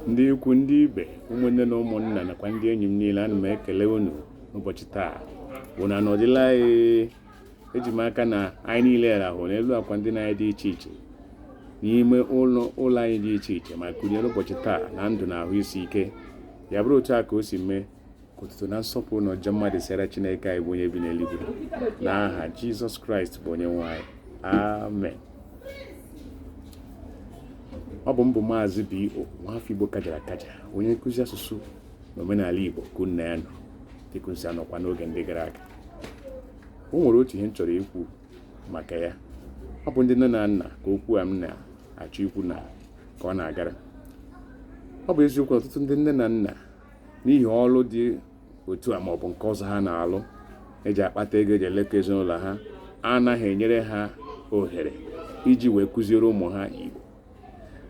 ndị ikwu ndị ibe ụmụnne na ụmụnna nakwa ndị enyi m niile ana m ekele unu n'ụbọchị taa unu anọdịla anyị eji m aka na anyị niile rahụ n'elu akwa ndina anyị dị iche iche n'ime ụlọ anyị dị iche iche ma kunie n'ụbọchị taa na ndụ na ahụ isi ike ya bụrụ otu a ka o si mee ka otuto na nsọpụrụ na ịja mma dịsịrị chineke anyị bụ onye bi n'eluigwe na aha jizọs kraịst bụ onye nwe anyị amen ọ bụ m bụ maazị bo nwafọ igbo kajara akaja onye nkụzi asụsụ na omenala igbo ka unu na ya nọ dịka anyị si anọkwa n'oge ndị gara aga o nwere otu ihe m chọrọ ikwu maka ya ọ bụ ndị nne na nna ka okwu a m na-achọ ikwu na ka ọ na-agara ọ bụ eziokwu ọtụtụ ndị nne na nna n'ihi ọlụ dị otu a maọbụ nke ọzọ ha na-alụ eji akpata ego eji eleta ezinụlọ ha anaghị enyere ha ohere iji wee kụziere ụmụ ha Igbo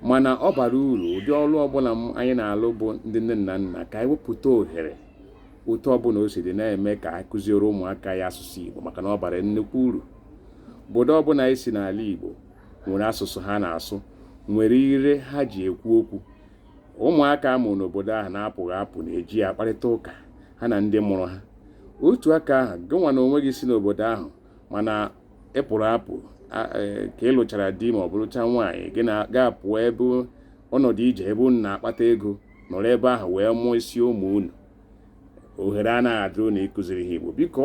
mana ọ bara uru ụdị ọlụ ọbụla anyị na-alụ bụ ndị nne na nna ka anyị wepụta ohere otu ọbụla o si dị na-eme ka anyị kụziere ụmụaka anyị asụsụ Igbo maka na ọ bara nnukwu uru obodo ọbụla anyị si n'ala Igbo nwere asụsụ ha na-asụ nwere ire ha ji ekwu okwu Ụmụaka a mụrụ n'obodo ahụ na-apụghị apụ na-eji ya akparịta ụka ha na ndị mụrụ ha. Otu aka ahụ, gịnwa na onwe gị si n'obodo ahụ mana ị pụrụ apụ e, ka ị lụchara di ma ọ bụ lụcha nwaanyị gị na ya agapụọ ebe ọnọdụ ije ebe unu na-akpata ego nọrọ ebe ahụ wee mụsịa ụmụ unu ohere anaghị adị unu ịkụziri ha Igbo biko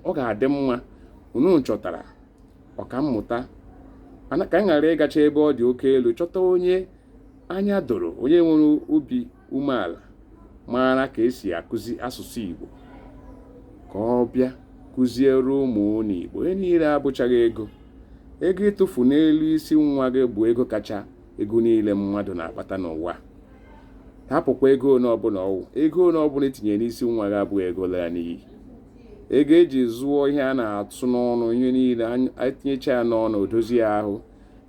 ọ ga-adị mma unu chọtara ọkammụta ka m ghara ịgacha ebe ọ dị oke elu chọta onye Anya doro onye nwere obi umeala maara ka esi akụzi asụsụ Igbo ka ọ bịa kụziere ụmụ unu Igbo ihe niile abụchaghị ego ego ị tụfuru n'elu isi nwa gị bụ ego kacha ego niile mmadụ na-akpata n'ụwa hapụkwa ego ole ọbụla ọ wụ ego ole ọbụla i tinyere n'isi nwa gị abụghị ego lara n'iyi ego eji zụọ ihe a na-atụ n'ọnụ ihe niile etinyecha ya n'ọnụ o dozie ahụ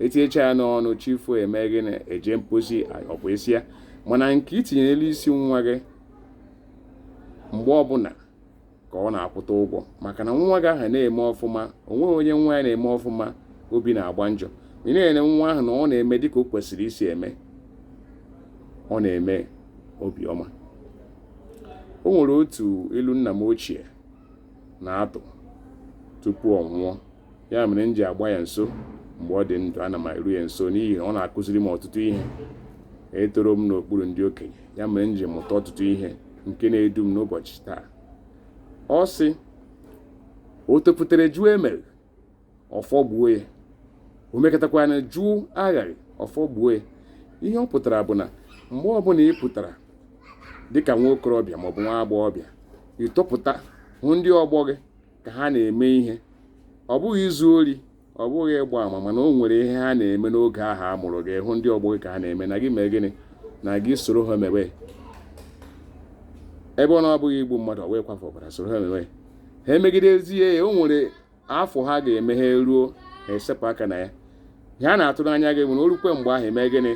etinyecha ya n'ọnụ chi foo eme gị eje mposi ọ bụ isi ya mana nke i tinyere n'elu isi nwa gị mgbe ọbụla ka ọ na-akwụta ụgwọ maka na nwa gị ahụ na-eme ọfụma onweghị onye nwa ya na-eme ọfụma obi na-agba njọ ị na-ele nwa ahụ na ọ na-eme dịka o kwesịrị isi eme ọ na-eme obi ọma o nwere otu ilu nna m ochie na-atụ tupu ọ nwụọ ya mere m ji agba ya nso mgbe ọ dị ndụ ana m eru ya nso n'ihi na ọ na-akụziri m ọtụtụ ihe etoro m n'okpuru ndị okenye ya mere m ji mụta ọtụtụ ihe nke na-edu m n'ụbọchị taa ọ sị o topụtara jụọ emere ọfọ gbuo ya o mekatakwanụ jụọ aghara ọfọ gbuo ya ihe ọ pụtara bụ na mgbe ọbụla ị pụtara dịka nwa okorobịa maọbụ nwa agbọghọbịa i topụta hụ ndị ọgbọ gị ka ha na-eme ihe ọ bụghị izu ori ọ bụghị ịgba ama mana o nwere ihe ha na-eme n'oge ahụ a mụrụ gị hụ ndị ọgbọ gị ka ha na-eme na gị mee gịnị na gị soro ha mewe ebe ọ na-abụghị igbu mmadụ ọ wee kwafuo ọbara soro ha mewe ha emegidezie ya o nwere afọ ha ga-eme ha eruo ha esepụ aka na ya ihe a na-atụ n'anya gị nwa o rukwa mgbe ahụ i mee gịnị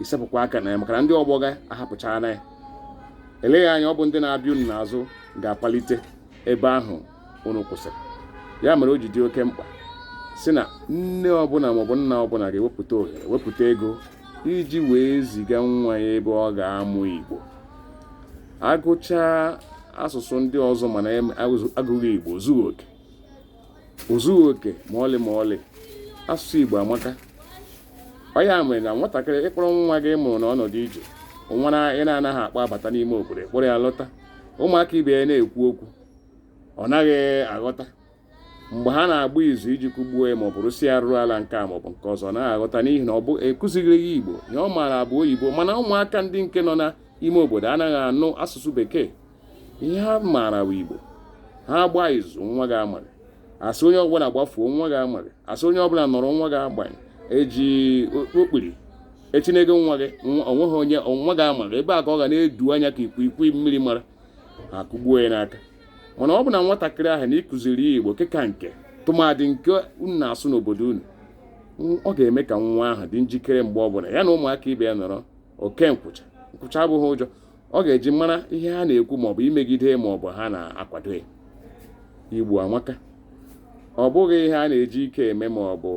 i sepụkwa aka na ya maka na ndị ọgbọ gị ahapụchaala ya eleghị anya ọ bụ ndị na-abịa unu n'azụ ga-apalite ebe ahụ unu kwụsịrị ya mere o ji dị oke mkpa sị na nne ọbụla maọbụ nna ọbụla ga-ewepụta ohere wepụta ego iji wee ziga nwa ya ebe ọ ga-amụ Igbo agụchaa asụsụ ndị ọzọ mana agụghị Igbo o zughị oke o zughị oke ma ọlị ma ọlị asụsụ Igbo amaka ọ ya mere na nwatakịrị ị kpọrọ nwa gị mụrụ na ọnọdụ ije nwa ị na-anaghị akpọbata n'ime obodo kpọrọ ya lọta ụmụaka ibe ya na-ekwu okwu ọ naghị aghọta mgbe ha na-agba izu iji kụgbuo ya maọbụ rụsi ya arụrụala nke a maọbụ nke ọzọ ọ naghị aghọta n'ihi na ọ bụ akụzighịrị ya Igbo ihe ọ maara bụ oyibo mana ụmụaka ndị nke nọ n'ime obodo anaghị anụ asụsụ bekee ihe ha maara bụ igbo ha agba izu nwa gị amaghị asị onye ọbụla gbafuo nwa gị amaghị asị onye ọbụla nọrọ nwa gị agbanye eji okpiri etinyego nwa gị onweghị onye nwa gị amaghị ebe a ka ọ ga na-edu anya ka ikwikwii mmiri mara ha kụgbuo ya n'aka mana ọ bụ na nwatakịrị ahụ na ị kụziri ya igbo nke ka nke tụmadị nke unu na-asụ n'obodo unu ọ ga-eme ka nwa ahụ dị njikere mgbe ọ bụla ya na ụmụaka ibe ya nọrọ oke nkwụcha nkwụcha abụghị ụjọ ọ ga-eji mara ihe ha na-ekwu maọbụ imegide maọbụ ha na-akwado ya igbo amaka ọ bụghị ihe a na-eji ike eme maọbụ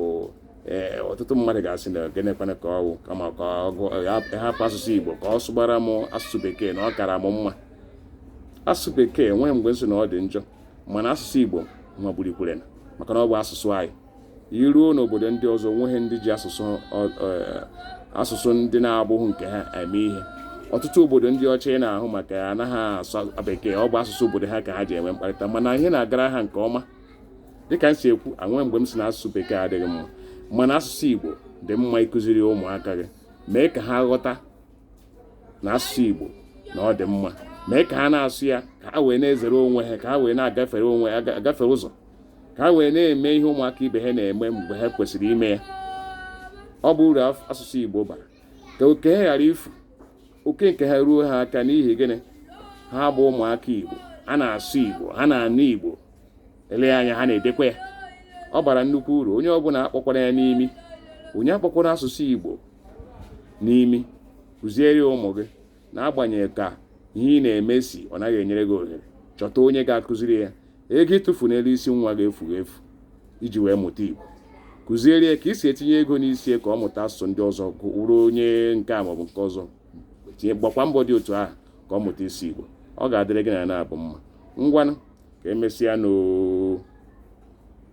ee ọtụtụ mmadụ ga-asị na gịnịkwanụ ka ọ wụ kama ka hapụ asụsụ igbo ka ọ sụbara m asụsụ bekee na ọ kara m mma asụsụ bekee onweghị mgbe m sị na ọ dị njọ mana asụsụ igbo magburukwara onwe ya maka na ọ bụ asụsụ anyị i ruo n'obodo ndị ọzọ onweghị ndị ji asụsụ asụsụ ndị na-abụghị nke ha eme ihe ọtụtụ obodo ndị ọcha ị na-anụ maka ya anaghị asụ bekee ọ bụ asụsụ obodo ha ka ha ji enwe mkparịta mana ihe na-agara ha nke ọma dịka m si ekwu onweghị mgbe m sị na asụsụ bekee adịghị mma mana asụsụ igbo dị mma ịkụziri ụmụaka gị mee ka ha ghọta na asụsụ igbo na ọ dị mma mee ka ha na-asụ ya ka ha wee na-ezere onwe ha ka ha wee na-agafere onwe agafere ụzọ ka ha wee na-eme ihe ụmụaka ibe ha na-eme mgbe ha kwesịrị ime ya ọ bụ uru asụsụ Igbo bara ka oke ha ghara ifu oke nke ha ruo ha aka n'ihi gịnị ha bụ ụmụaka Igbo ha na-asụ Igbo ha na-anụ Igbo elee anya ha na-edekwa ya ọ bara nnukwu uru onye ọbụla akpọkwara ya n'imi onye akpọkwara asụsụ Igbo n'imi kụziere ụmụ gị n'agbanyeghị ka ihe ị na-eme si ọ naghị enyere gị ohere chọta onye ga-akụziri ya ego ị tụfu n'elu isi nwa ga-efu efu iji wee mụta Igbo kụziere ya ka ị si etinye ego n'isi ka ọ mụta asụsụ ndị ọzọ gụrụ onye nke a maọbụ nke ọzọ tinye gbakwa mbọ dị otu ahụ ka ọ mụta ịsụ Igbo ọ ga-adịrị gị na nwa ahụ mma ngwanụ ka emesịa nụ oo